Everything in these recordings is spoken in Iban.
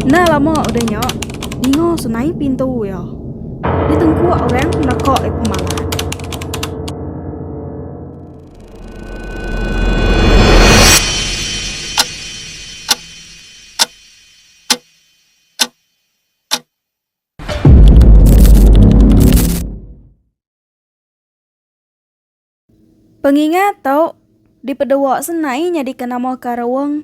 Enda lama udah nya, dinga sunai pintu iya. Di tengkuk orang naka ai pemalan. Pengingat tu dipedewa senai nyadika nama Karawong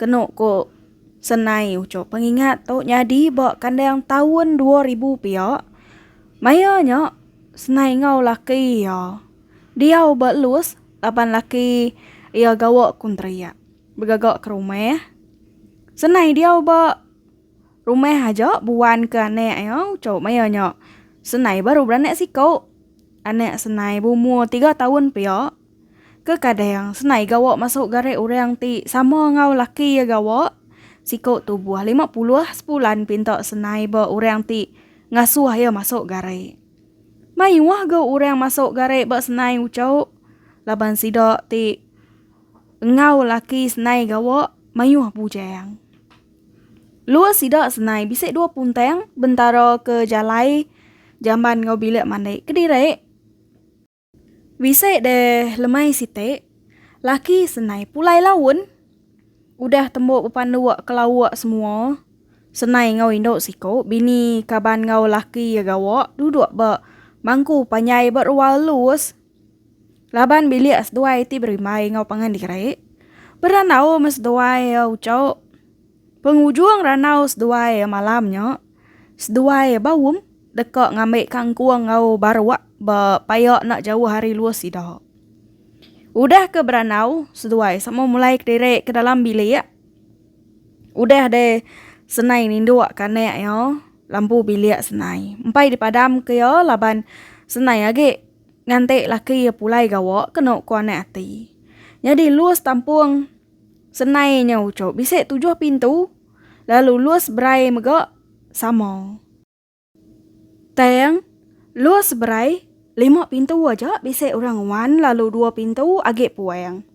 kenu ku Senai Uchup. Pengingat tu nyadi ba kandang taun dua ribu pia. Maya nya Senai enggau laki iya diau ba Lus laban laki iya gawa kontrak begaga ke rumah. Senai diau ba Rumah aja buan ke anak iya ucau maya nya. Senai baru beranak siku. Anak Senai berumur tiga taun pia. Kekadang Senai gawa masuk garik orang ti sama enggau laki iya gawa. Siku tubuh lima puluh sebulan pinta Senai ba orang ti ngasuh iya masuk garik. Mayuh ga orang masuk garik ba Senai ucau laban sida ti enggau laki Senai gawa mayuh bujang. Lua sida senai bisi dua puntang bentara ke jalai jamban enggau bilik mandi kediri. Bisi deh lemai siti, laki senai pulai laun. Udah tembu bepanduk ke lauk semua, senai enggau indu siku bini kaban enggau laki iya gawa duduk ba mangku panjai ba rual lus. Laban bilik seduai ti berimbai enggau pangan diri, berandau meh seduai uchauk. Pengujung randau seduai malam nya, seduai Baum deka ngambi kangkung enggau baruk ba paya enda jauh ari luah sida. Udah ke berandau, seduai sama mulai kediri ke dalam bilik. Udah deh senai ninduk kanak iya lampu bilik senai. Empai dipadamka iya laban senai agi. Ngante laki iya pulai gawa kenu ku anak ati. Nyadi lus tampung senai nya uchup bisi tujuh pintu lalu lus berai mega sama. Tang lus berai lima pintu aja bisi orang nguan lalu dua pintu agi puang.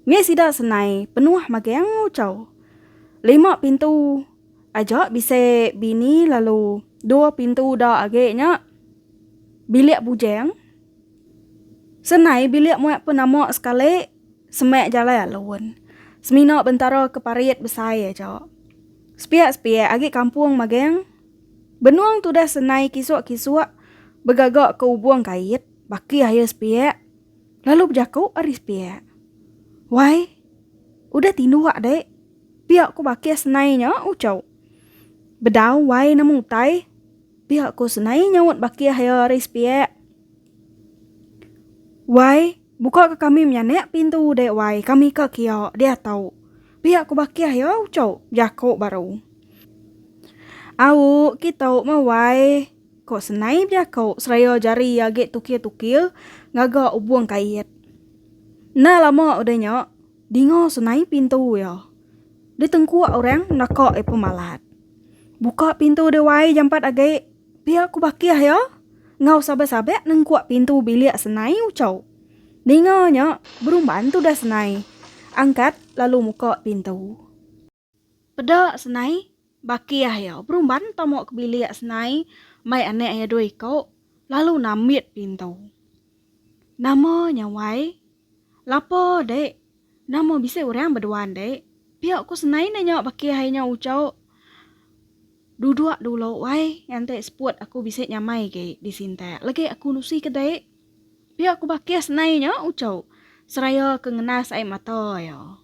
Mih sida senai penuh magang uchup lima pintu. Aja bisi bini lalu dua pintu uda agi nya bilik bujang. Senai bilik muat pun nama sekali semak jalai alun. Semina bentara ke parit besai aja. Sepiak-sepiak agi kampung magang benung tudah senai kisuk-kisuk begaga ke ubung kait baki air sepiak lalu bejaku ari sepiak. Wai, udah tinduk dek. Pia ku bakis nai nya uco. Bedau wai nama utai. Pia ku senai nyaut bakih iya ari sepiak. Wai, buka ka kami menyanak pintu dek wai kami ka kia diatu. Pia ku bakih iya uco jako baru. Au kita meh wai ko senai bejako seraya jari iya agi tukil tukil ngaga ubung kait. Enda lama udah nya. Dinga senai pintu iya. Ditengkuk orang naka iya pemalat. Buka pintu dia wai jampat agi. Pia ku Bakih iya enggau sabak-sabak nengkuk pintu bilik senai ucau. Ninga nya berumban tudah senai angkat lalu muka pintu. Peda senai, baki ayo berumban tomo ke bilik senai mai anek iya dua iko lalu nambit pintu. Nama nya wai? Lapa dek? Nama bisi urang beduan dek? Pia ku senai nanya baki ayo nya ucok. Duduk dulu wai nganti seput aku bisi nyamai agi di sintak legi aku nusi ke dek. Pia ku baki senai nya ucok seraya ke ngenas ai mata iya.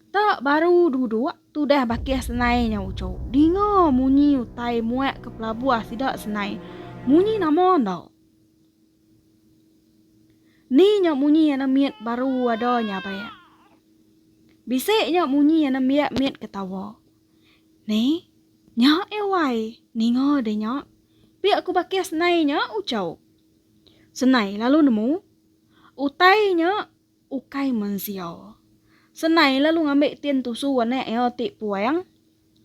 Kita baru duduk tudah bakih senai nya uco. Dinga munyi utai muak ke pelabuh sida senai. Munyi nama enda. Ni nya munyi anak mit baru ada nya baik. Bisi nya munyi anak biak mit ketawa. Ni, nya eh wai, ninga deh nya. Pia ku bakih senai nya uco. Senai lalu nemu. Utai nya. ukai mensia. Senai lalu ngambi tin tusu anak iya ti puang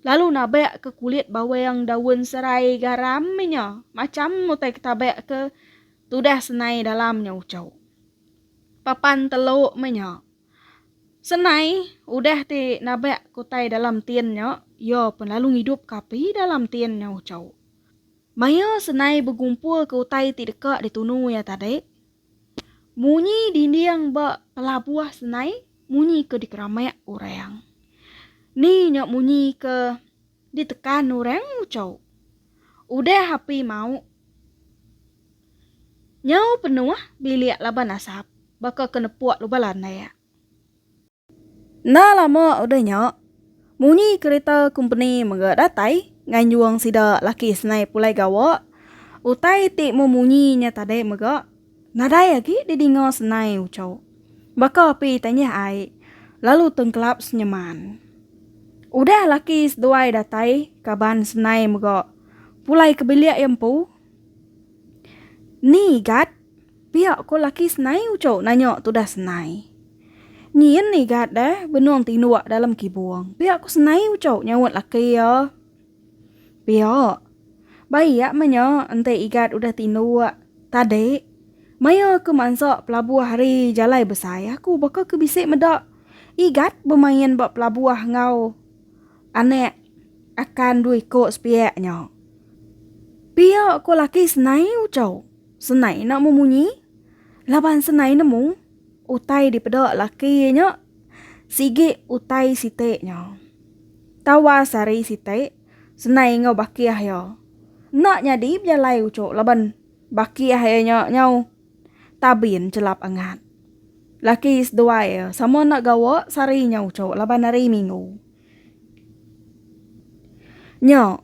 lalu nabak ke kulit bawang daun serai garam nya macham utai ke tabak ke tudah senai dalam nya uchu. Papan telu meh nya. Senai udah ti nabak ke utai dalam tin nya iya pen lalu ngidup ke api dalam tin nya uchu. Maya senai begumpul ke utai ti deka ditunu iya tadi, Munyi dinding ba pelabuh senai munyi ke dikeramik orang. Ni nya munyi ke ditekan orang nguchau. Udah api mauk nyau penuh bilik laban asap baka ke nepuk lubang landak. Enda lama udah nya, munyi kereta kompeni mega datai nganjung sida laki senai pulai gawa. Utai ti memunyi nya tadi mega nadai agi didinga senai uchu baka api tanyah ai lalu tengkelap senyeman. Udah laki seduai datai kaban senai mega pulai ke bilik iya empu. Ni gat. Pia ko laki senai uco nanya tudah senai. Nyin igat deh benung tinduk dalam kibung. Pia ko senai uco nyaut laki iya. Pia. Baik meh nya enti igat udah tinduk. Tadi maya aku mansa pelabuh ari jalai besai aku baka ke bisi meda igat bemain ba pelabuh enggau anak akan dua iko sepiak nya. Pia ko laki senai uco. Senai enda mu munyi laban senai nemu utai dipeda laki iya nya sigi utai siti nya. Tawas hari siti Senai enggau bakih iya enda nyadi bejalai uchu laban bakih iya nya nyau tabin chelap angat. Laki seduai iya sama enda gawa sehari nya uchu laban hari minggu nya.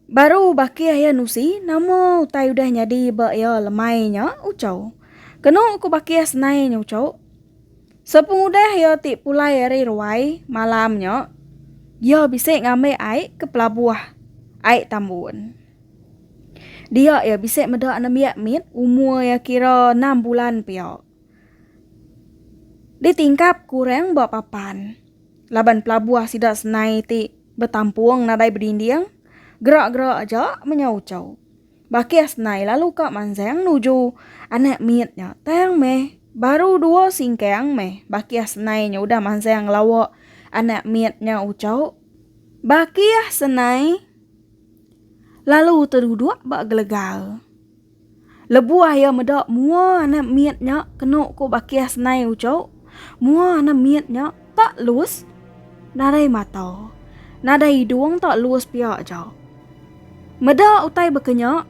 Baru baki ayah Nusi, nama utai udah nyadi ba iya lemai nya, Uchau. Kenu ku baki iya senai nya Uchau. Sepengudah iya ti pulai ari ruai malam nya, iya bisi ngambi ai ke pelabuh Ai Tambun. Dia iya bisi meda nembiak mit umur iya kira enam bulan pia. Ditingkap kurang ba papan laban pelabuh sida senai ti betampung nadai bedinding, gerak-gerak aja menyau ucau. Bakih senai lalu ka manjang nuju anak mit nya tang meh baru dua singkang meh bakih senai nya udah manjang ngelawa anak mit nya ucau. Bakih senai lalu teduduk ba gelegal. Lebuh iya meda mua anak mit nya kenu ku bakih senai uchu, mua anak mit nya tak lus nadai mata, nadai idung tak lus pia aja. Meda utai baka nya,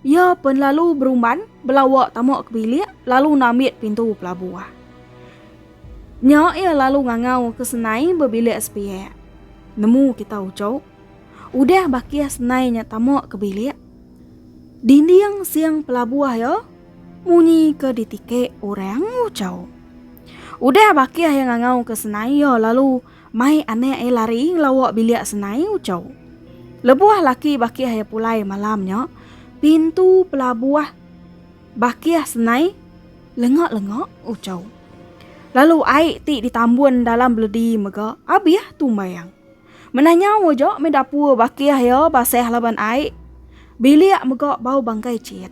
iya pen lalu berumban belawa tama ke bilik lalu nambit pintu pelabuh. Nya iya lalu ngangau ke senai ba bilik sepiak. Nemu kita uchu. Udah bakih senai nya tama ke bilik. Dinding siang pelabuh iya munyi ke ditikek orang ucau. Udah bakih iya ngangau ke senai iya lalu mai anak iya lari ngelawa bilik senai ucau. Lebuh laki bakih iya pulai malam nya, pintu pelabuh bakih senai lenga-lenga ucau. Lalu ai ti ditambun dalam beledi mega abih tumbai iya. Mena nyau aja meh dapur bakih iya basah laban ai. Bilik mega bau bangkai cit.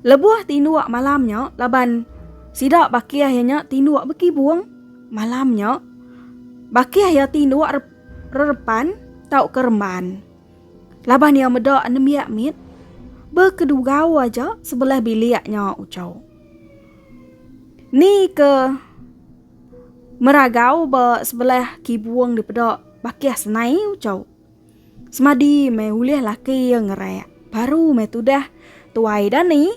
Lebuh tinduk malam nya laban sida bakih iya nya tinduk bekibung. Malam nya bakih iya tinduk re rerepan tauka remban. Laban iya meda nembiak mit bekedugau aja sebelah bilik nya uchu. Ni ke. Meragau ba sebelah kibung dipeda bakih senai ucau. Semadi meh ulih laki iya ngerak. Baru meh tudah tuai dani.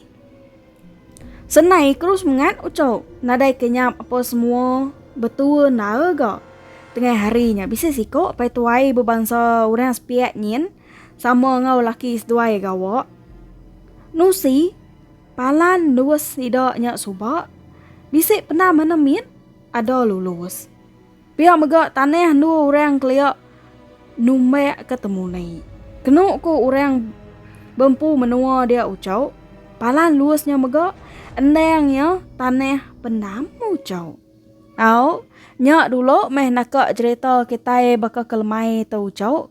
Senai keru semengat ucau. Nadai kenyap apa semua betua nara ga. Tengah hari nya bisi siko pai tuai bebansa orang sepiak nyin sama enggau laki seduai gawa. Nusi. Palan lus sida nya suba bisi penda mana mit ada lulus. Pia mega tanah endu orang kelia numbak ke temuni. Kenu ku orang bempu menua dia ucau, palan lus nya mega endang iya tanah pendam ucau. Au, nya dulu meh naka jerita kitai baka ke lemai tu ucau.